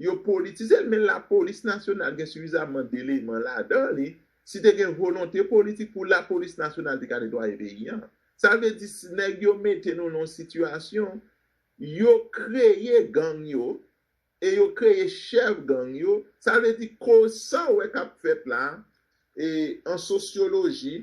Yo politize l men lapolis nasyonal gen sifizaman deleman ladan li, si te gen volonte politik pou lapolis nasyonal te ka netwaye peyi an. Sa vle di si nèg yo mete nou nan yon sitiyasyon, yo kreye gang yo e yo kreye chèf gang yo, sa vle di koz sa w wè k ap fèt la e an sosyoloji,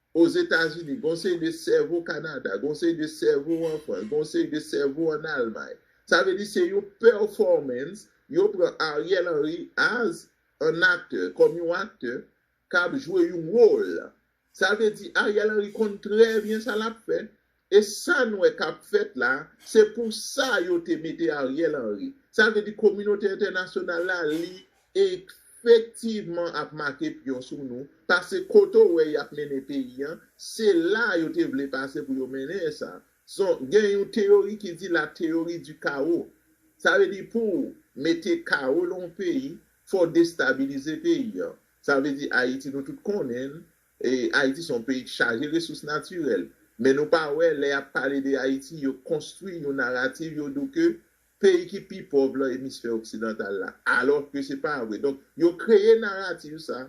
Ozetazini, gen yon seri de sèvo Kanada, gen yon seri de sèvo an Frans, gen yon seri de sèvo an Almay. Sa vle di se yon pèfòmans, yo pran Ariel Henry as an aktè, kòm yon aktè k ap jwe yon wòl. Sa vle di Ariel Henry konn trè byen sa l ap fè, E sa n wè kap fèt la, se pou sa yo te mete Ariel Henry. Sa vle di kominote entènasyonal la li efektivman ap make pyon sou nou, pase kote w wè yap mennen peyi an, se la yo te vle pase pou yo mennen sa. Son, gen yon teyori ki di la teyori di kawo. Sa vle di pou w mete kawo lan yon peyi, fò w destabilize peyi an. Sa vle di Ayiti nou tout konnen l, Ayiti se yon peyi k chaje resous natirèl men nou pa wè lè yap pale de Ayiti yo konstwi yon narativ yo dou ke peyi ki pi pòv lan emisfè oksidantal la alò ke se pa vre donk yo kreye narativ sa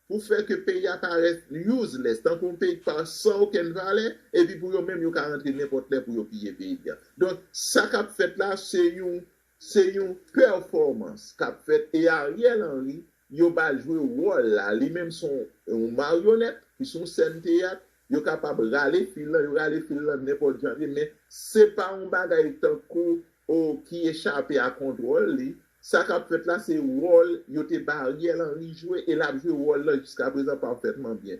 pou fè ke peyi a parèt useless tankou yon peyi k pa san okenn valè epi pou yo menm yo ka rantre nenpòt lè pou yo piye peyi a donk sa kap fèt la se yon se yon pèfòmans kap fèt e Ariel Henry Yo pa jwe wòl la, li menm se yon maryonèt, ki se yon sèn teyat, yo kapab rale fil lan, yo rale fil lan nenpòt jan vre men se pa yon bagay tankou o ki echape a kontwòl li, sa k ap fèt la se wòl yo te ba Ariel Henry jwe e l ap jwe wòl lan jiskaprezan pafètman byen.